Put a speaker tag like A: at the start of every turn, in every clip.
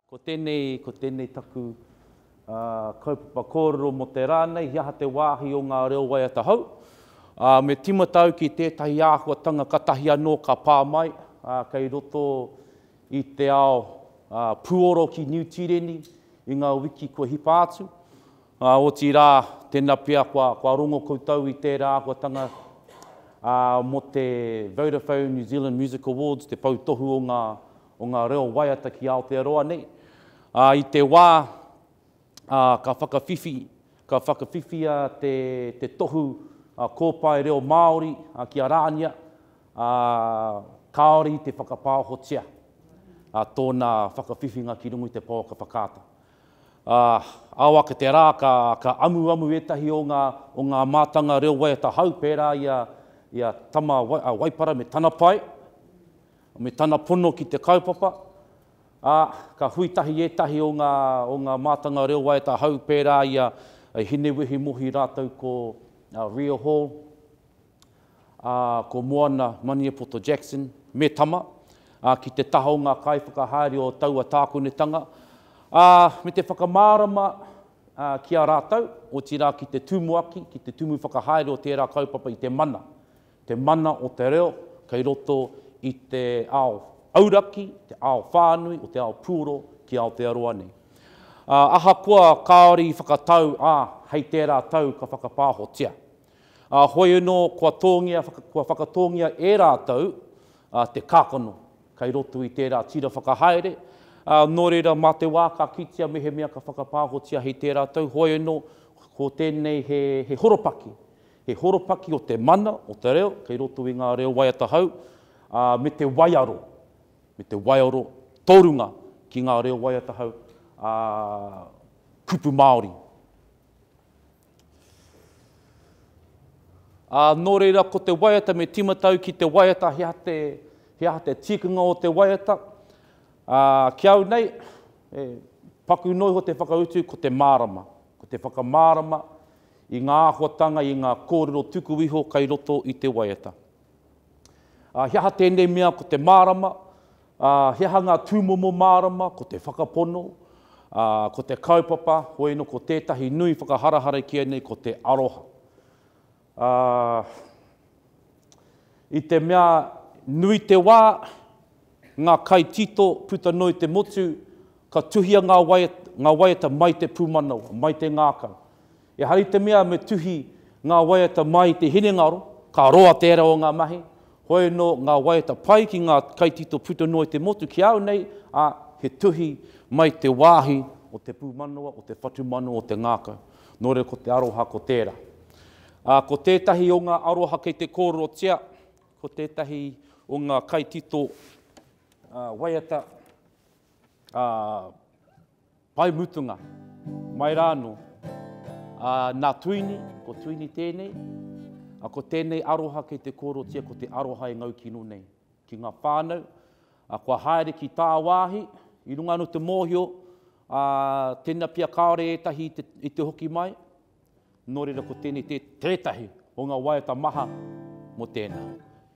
A: Ko tēnei, ko tēnei taku uh, kaupapa kōrero mō te rā nei, he aha te wāhi o ngā reo waiata hou. Uh, me timata au ki tētahi āhuatanga katahi anō ka pā mai, uh, kei roto i te ao uh, puoro ki Niu Tīreni i ngā wiki kua hipa atu. Ā, otirā, tēnā pea kua, kua rongo koutou i tērā āhuatanga, ā, mō te Vodafone New Zealand Music Awards, te pou tohu o ngā, o ngā reo waiata ki Aotearoa nei. Ā, i te wā, ā, ka whakawhiwhi, ka whakawhiwhia te, te tohu, ā, kōpae reo Māori, ā, ki a Rānia, ā, kāore i te whakapāohotia, ā, tōna whakawhiwhinga ki runga i te pouaka whakaata. Ā, ao ake te rā ka, ka amuamu ētahi o ngā, o ngā mātanga reo waiata hau pērā i a, i a Tama a Waipara me tana pae, me tana pono ki te kaupapa, ā, ka hui tahi ētahi o ngā, o ngā mātanga reo waiata hau pērā i a, a Hinewehi Mohi rātou ko, a, Ria Hall, ā, ko Moana Maniepoto Jackson, me Tama, ā, ki te taha o ngā kaiwhakahaere o taua tākonetanga, ā, me te whakamārama, ā, ki a rātou, otirā ki te tumuaki, ki te tumu whakahaere o tērā kaupapa i te mana, te mana o te reo kei roto i te ao auraki, te ao whānui o te ao puoro ki Aotearoa nei. Ā, ahakoa kāore i whakatau, ā, hei tērā tau ka whakapāhotia. Ā, hoi anō kua tōngia, kua whakatōngia e rātou te kākano kei roto i tērā tira whakahaere, ā, nō reira mā te wā ka kitea mehemea ka whakapāhotia hei tērā tau, hoi anō ko tēnei he, he horopaki, he horopaki o te mana, o te reo, kei roto i ngā reo waiata hou, ā, me te waiaro, me te waiaro tōrunga ki ngā reo waiata hou, ā, kupu Māori. Ā, nō reira, ko te waiata me tīmatau ki te waiata, he aha te, he aha te tikanga o te waiata? Ā, ki au nei, e, paku noa iho te whakautu, ko te mārama. Ko te whakamārama i ngā āhuatanga, i ngā kōrero tuku iho kei roto i te waiata. Ā, he aha tēnei mea ko te mārama? Ā, he aha ngā tūmomo mārama? Ko te whakapono, ā, ko te kaupapa, hoi no ko tētahi nui whakaharahara ki ēnei ko te aroha. Ā, i te mea nui te wā, ngā kai tito puta noa i te motu, ka tuhia ngā waiata, ngā waiata mai te pūmanawa, mai te ngākau. Ehara i te mea me tuhi ngā waiata mai i te hinengaro, ka roa te ere o ngā mahi, hoi anō ngā waiata pai ki ngā kaitito puta noa i te motu ki au nei, ā, he tuhi mai te wāhi o te pūmanawa, o te whatumanawa, o te ngākau. Nō reira ko te aroha ko tērā. Ā, ko tētahi o ngā aroha kei te kōrerotia, ko tētahi o ngā kaitito waiata, ā, Pae mutunga, mai rā anō. Ā, nā Tuini, ko Tuini tēnei, ā, ko tēnei aroha kei te kōrotia ko te aroha e ngau kino nei ki ngā whānau, ā, kua haere ki tāwāhi, i runga anō i te mōhio, ā, tēnā pea kāore ētahi i te hoki mai, nō reira ko tēnei tētahi o ngā waiata maha mō tēnā.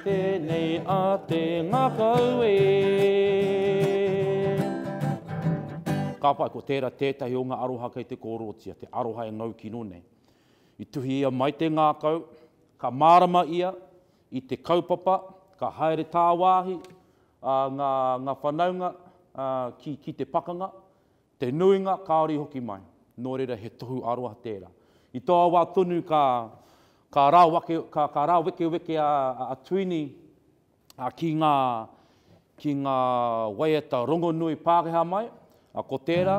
A: Tēnei a te ngakau e. Ka pai, ko tērā tētahi o ngā aroha kei te kōrōtia, te aroha e ngau kino nei. I tuhi ia mai te ngākau, ka mārama ia i te kaupapa, ka haere tāwāhi ngā whanaunga ki te pakanga, Te nuinga kāore i hoki mai, nō reira he tohu aroha tērā. I taua wā tonu ka, ka, rāwake, ka, ka rāwekeweke a, a Tuini a, ki ngā, ki ngā waiata rongonui Pākehā mai, a, ko tērā,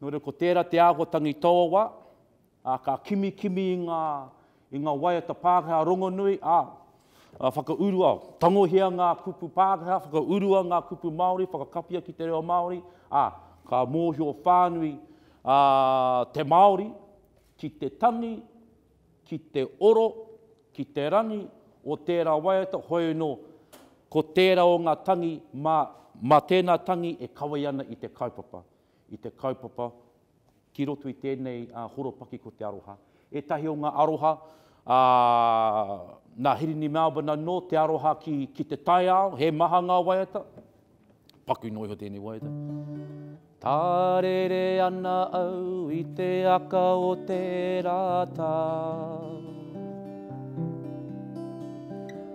A: Nō reira ko tērā te āhuatangi tōwa, ā, ka kimikimi i ngā, i ngā waiata Pākehā rongonui, ā, ā, whakaurua, tangohia ngā kupu Pākehā, whakaurua ngā kupu Māori, whakakapia ki te reo Māori, ā, ka mōhio whānui ā te Māori ki te tangi, ki te oro, ki te rangi o tērā waiata, hoeno ko tērā o ngā tangi mā, mā tēnā tangi e kawei ana i te kaupapa. i te kaupapa ki roto i tēnei horopaki ko te aroha. Ētahi o ngā aroha a nā Hirini Melbourne anō, te aroha ki, ki te taiao, he maha ngā waiata. Paku noa iho tēnei waiata. Tārere ana au i te aka o te rātau.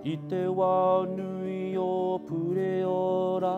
A: I te wao nui o Pureora,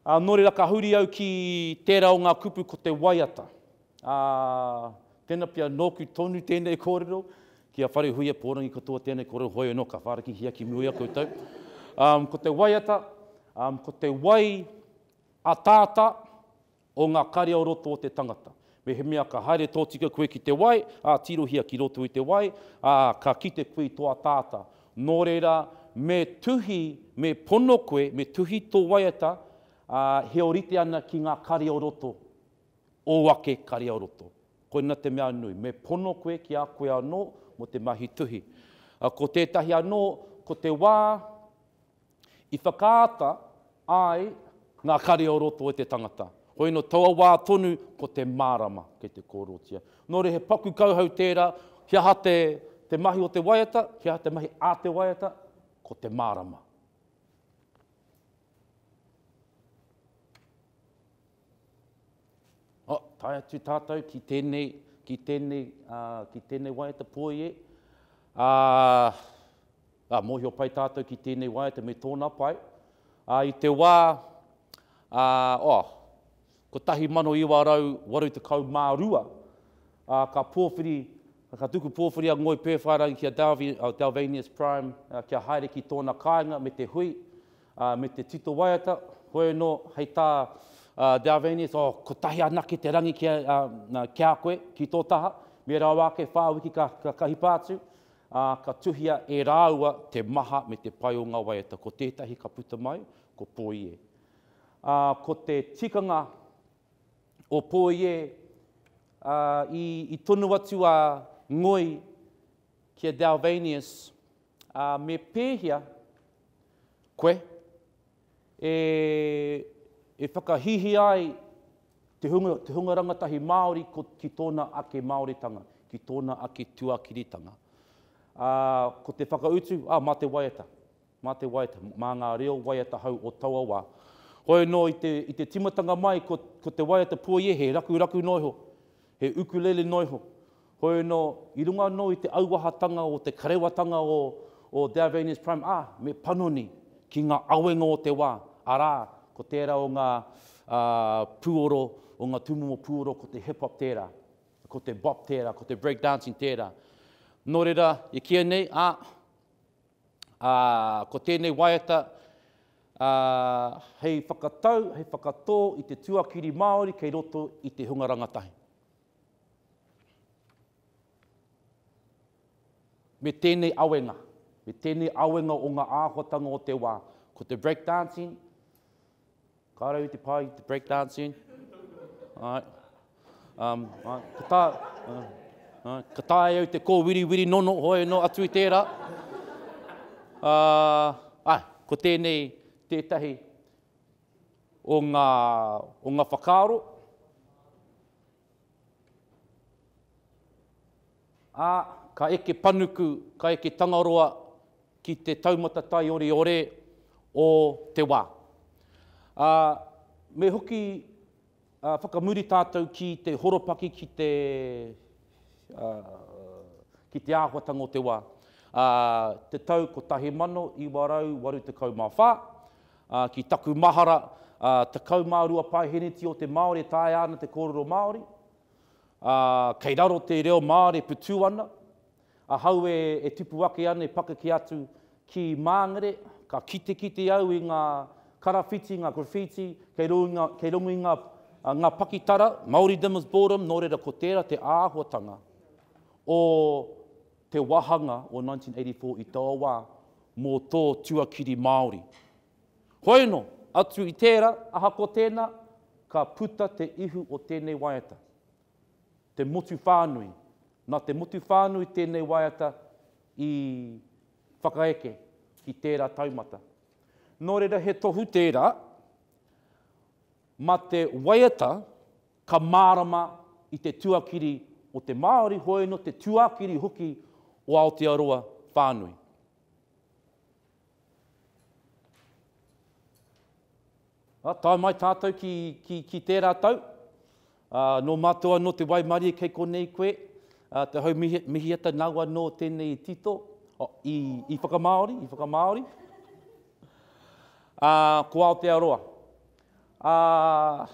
A: Ā, nō reira ka huri au ki tērā o ngā kupu ko te waiata. Ā, tēnā pea nōku tonu tēnei kōrero, ki a Wharehuia pōrangi katoa tēnei kōrero hoi anō ka whārakihia ki mua i a koutou. Ā, ko te waiata, ā, ko te wai ataata, O ngā kare o roto o te tangata. Mehemea ka haere tōtika koe ki te wai, ā, tirohia ki roto i te wai, ā, ka kite koe i tō ataata. Nō reira, me tuhi, me pono koe, me tuhi tō waiata, ā, he orite ana ki ngā kare o roto, ō ake kare o roto. Koina te mea nui, me pono koe ki a koe anō mō te mahi tuhi. Ko tētahi anō, ko te wā, I whakaata ai ngā kare o roto e te tangata. Hoi no taua wā tonu ko te mārama kei te kōrotia. Nō reira he paku kauhau tērā, he aha te te mahi o te waiata, he aha te mahi a te waiata, ko te mārama. Oh, tae atu tātou ki tēnei, ki tēnei, uh, ki tēnei waiata poi e. Uh, uh, mōhio pai tātou ki tēnei waiata me tōna pai. Uh, I te wā, uh, oh, 1982, uh, ka pōwhiri, ka tuku pōwhiri a Ngoi Pēwhairangi ki a Dalvi, uh, Dalvanius Prime, uh, kia haere ki tōna kāinga me te hui, Ā, me te tito waiata, koe anō hei tā a Dalvanius, Oh, kotahi anake te rangi ki a, a, a, ki a koe, ki tō taha, me rawa ake whā wiki ka, ka, ka hipa atu, ā, ka tuhia e rāua te maha me te pai o ngā waiata. Ko tētahi ka puta mai, ko Pōie. Ā, ko te tikanga o Pōie, ā, i, i tonu atu a Ngoi ki a Dalvanius, Ā, me pēhea koe e, e whakahihia ai te hunga, te hunga rangatahi Māori ko, ki tōna ake Māoritanga, ki tōna ake tuakiritanga? Ā, ko te whakautu, ā, mā te waiata, mā te waiata, mā ngā reo waiata hou o taua wā. Hoi anō i te, i te timatanga mai ko, ko te waiata pueie he rakuraku noa iho, he ukulele noa iho, Heoi anō, i runga anō i te auahatanga o te karewatanga o o Dalvania's Prime ā, me panoni ki ngā awenga o te wā, arā, ko tērā o ngā ā, pūoro, o ngā tūmomo pūoro ko te hip-hop tērā, ko te bop tērā, ko te break dancing tērā. Nō reira, i kīia nei, ā, ā, ko tēnei waiata ā, hei whakatau, hei whakatō i te tuakiri Māori kei roto i te hunga rangatahi. Me tēnei awenga, me tēnei awenga o ngā āhuatanga o te wā, ko te break dancing, ka rau te pai te break dancing, ai, um, ai, ka tā, uh, ai, ka tāi au te kōwiriwiri nono, hoi no atu i tērā. Uh, ai, ko tēnei tētahi o ngā, o ngā whakaaro, Ā, ka eke panuku, ka eke Tangaroa ki te taumata taioriore o te wā. Ā, me hoki whakamuri tātou ki te horopaki ki te, ā, ki te āhuatanga o te wā. Ā, te tau 1984, Ā, ki taku mahara, ā, tekau mā rua paeheneti o te Māori e taea ana te kōrero Māori. Ā, kei raro te reo Māori e putū ana. Ahau e, e tupu ake ana e pakeke atu ki Māngere, ka kitekite au i ngā karawhiti, ngā graffiti, kei ro i ngā, kei rongo i ngā, ā, ngā pakitara, Māoridom is boredom, nō reira ko tērā te āhuatanga o. te wāhanga o 1984 i taua wā mō tō tuakiri Māori. Hoeno, atu i tērā, ahakoa tēnā, ka puta te ihu o tēnei waiata, te motu whānui. Nā te motu whānui tēnei waiata i whakaeke ki tērā taumata. Nō reira he tohu tērā, mā te waiata Ka mārama i te tuakiri o te Māori hoi no te tuakiri hoki o Aotearoa whānui. A, tae mai tātou ki, ki, ki tērā tau. A, nō mātou anō te waimarie kei konei koe. A, te hau mihi, mihiata nau anō tēnei i tito, o, i, i whakamāori, i whakamāori. A, ko Aotearoa. Ā,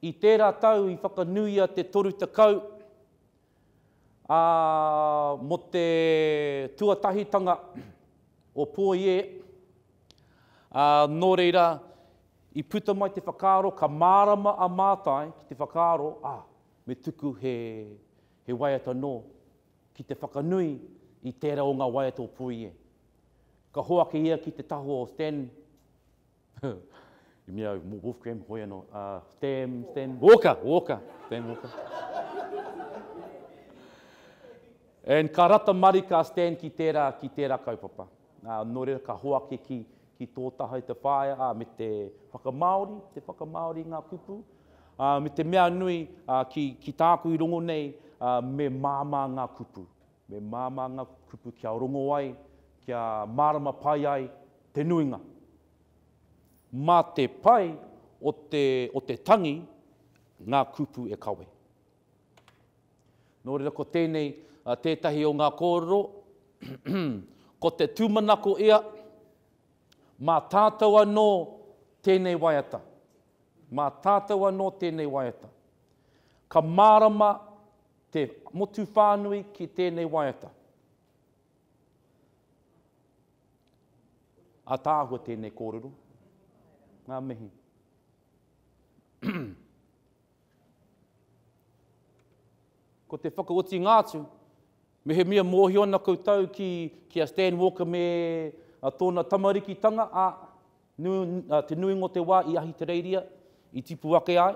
A: i tērā tau i whakanuia te toru tekau, ā, mō te tuatahitanga o Pōiē, ā, nō reira, i puta mai te whakaaro, ka mārama a Mātai ki te whakaaro, ā, me tuku he, he waiata nō ki te whakanui i tērā o ngā waiata o Puie. Ka hoake ia ki te taho o Stan, i mea au, mō Wolfgram, hoi anō, ā, Stan, Stan, Walker, Walker, Stan Walker. And ka rata marika a Stan ki tērā, ki tērā kaupapa. Ā, nō reira ka hoaki ki, ki tō taha i te whaea, ā, me te whakamāori, te whakamāori i ngā kupu, ā, me te mea nui, ā, ki, ki tāku i rongo nei, ā, me māmā ngā kupu. Me māmā ngā kupu kia rongo ai, kia mārama pai ai te nuinga. Mā te pai o te, o te tangi ngā kupu e kawe. Nō reira ko tēnei tētahi o ngā kōrero, ko te tūmanako ia, mā tātou anō tēnei waiata. Mā tātou anō tēnei waiata. Ka mārama te motu whānui ki tēnei waiata. Ataahua tēnei kōrero. Ngā mihi. Ko te whakaotinga atu, mehemea mōhio ana koutou ki, ki a Stan Walker me a tōna tamarikitanga, ā, nu, a, te nuinga o te wā i Ahitereiria, i tipu ake ai,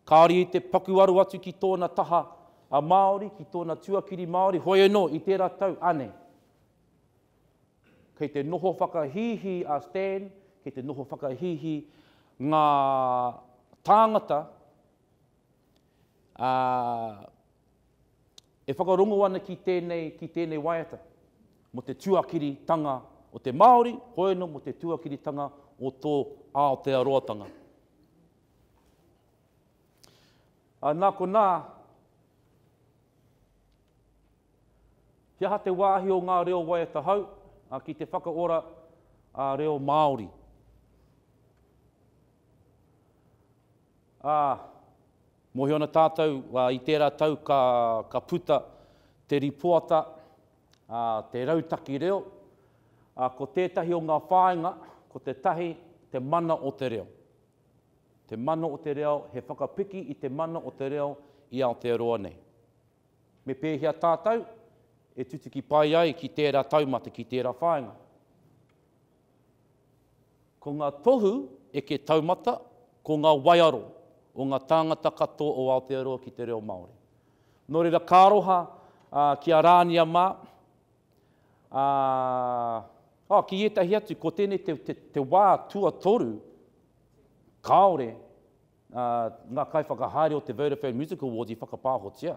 A: kāore i te paku aro atu ki tōna taha a Māori, ki tōna tuakiri Māori, hoi anō, i tērā tau, anei. Kei te noho whakahīhī a Stan, kei te noho whakahīhī ngā tāngata ā, e whakarongo ana ki tēnei, ki tēnei waiata mō te tuakiritanga o te Māori, hoeno mō te tuakiritanga o tō Aotearoatanga. Ā, nā konā, He aha te wāhi o ngā reo waiata hou ki te whakaora reo Māori? Ā, mōhio ana tātou i tērā tau ka puta te ripoata Te Rautaki Reo, ko tētahi o ngā whāinga ko te tahi te mana o te reo. Te mana o te reo, he whakapiki i te mana o te reo i Aotearoa nei. Me pēhea tātou e tutuki pai ai ki tērā taumata, ki tērā whāinga? Ko ngā tohu eke taumata ko ngā waiaro o ngā tāngata katoa o Aotearoa ki te reo Māori. Nō reira ka aroha ki a Rānia mā, ā, oh, ki ētahi atu, ko tēnei te, te, te wā tuatoru kāore Ā, ngā kaiwhakahaere o te Vodafone Music Awards i whakapāhotia.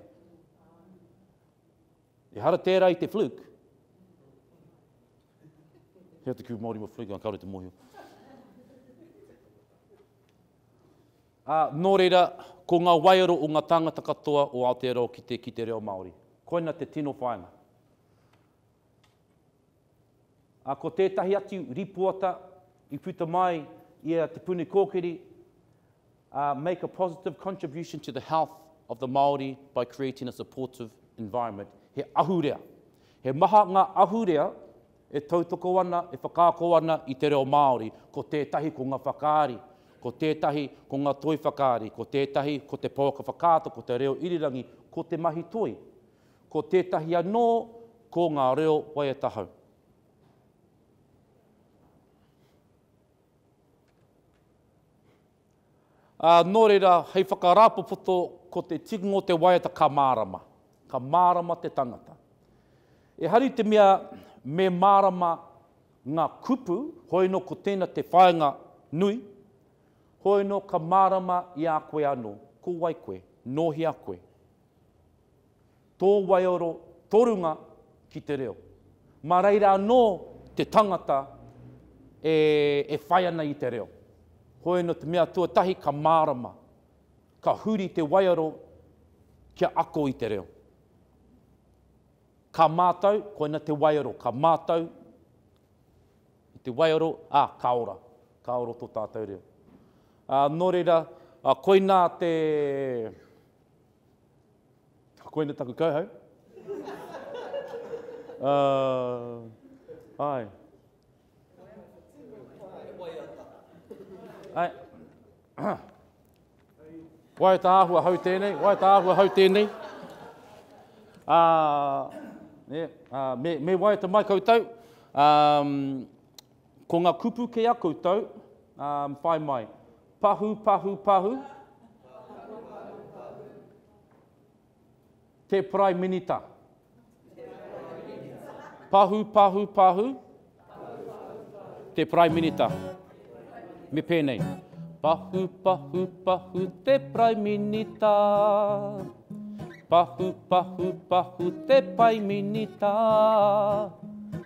A: Ehara tērā i te fluke. Hea te kū Māori mo fluke, kāore te mōhio. Ā, nō reira, ko ngā waiaro o ngā tāngata katoa o Aotearoa ki te, ki te reo Māori. Koina te tino whāinga. Ā, ko tētahi atu rīpoata i puta mai i a Te Puni Kōkiri, ā, Make a positive contribution to the health of the Māori by creating a supportive environment, he ahurea. He maha ngā ahurea e tautoko ana, e whakaako ana i te reo Māori, ko tētahi ko ngā whakaari, ko tētahi ko ngā toi whakaari, ko tētahi ko te pouaka whakaata, ko te reo irirangi, ko te mahi toi. Ko tētahi anō, ko ngā reo waiata hou. Ā, nō reira, hei whakarāpopoto, ko te tikinga o te waiata ka mārama. Ka mārama te tangata. Ehara i te mea me mārama ngā kupu, hoino ko tēna te whāinga nui, hoino ka mārama i a koe anō, ko wai koe, nōhia koe. Tō waiaro, tō runga ki te reo. Mā reira anō te tangata e, e whai ana i te reo. Hoi anō te mea tuatahi ka mārama, ka huri te waiaro kia ako i te reo. Ka mātau, koina te waiaro, ka mātau i te waiaro, ā, ka ora, ka ora tō tātou reo. Ā, nō reira, koina te, Koina taku kauhau. uh, ai. Ai. Wai tā ahua hau tēnei, wai tā ahua hau tēnei. Uh, yeah, uh, me, me wai te mai koutou. Um, Ko nga kupu ke a koutou, um, whai mai. Pahu, pahu, pahu. Te Prae Minita. Pahu, pahu, pahu. Te Prae Minita. Me pēnei. Pahu, pahu, pahu, te Prae Minita. Pahu, pahu, pahu, te Pai Minita.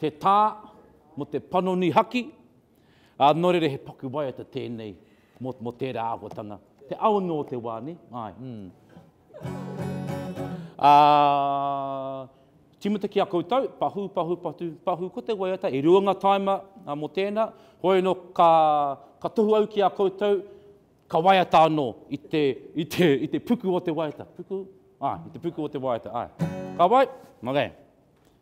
A: Te tā mō te panoni haki, ā, nō reira he paku waiata tēnei mō, mō tērā āhuatanga. Te ao anō o te wā, nē? Āe, mm. Ā, tīmata ki a koutou, pahū, pahū, patu, pahū, ko te waiata, e rua ngā tāima mō tēnā, hoi anō ka, ka tohu au ki a koutou, ka waiata anō i te, i te, i te puku o te waiata. Puku? Āe, i te puku o te waiata, āe. Ka wai? Okay.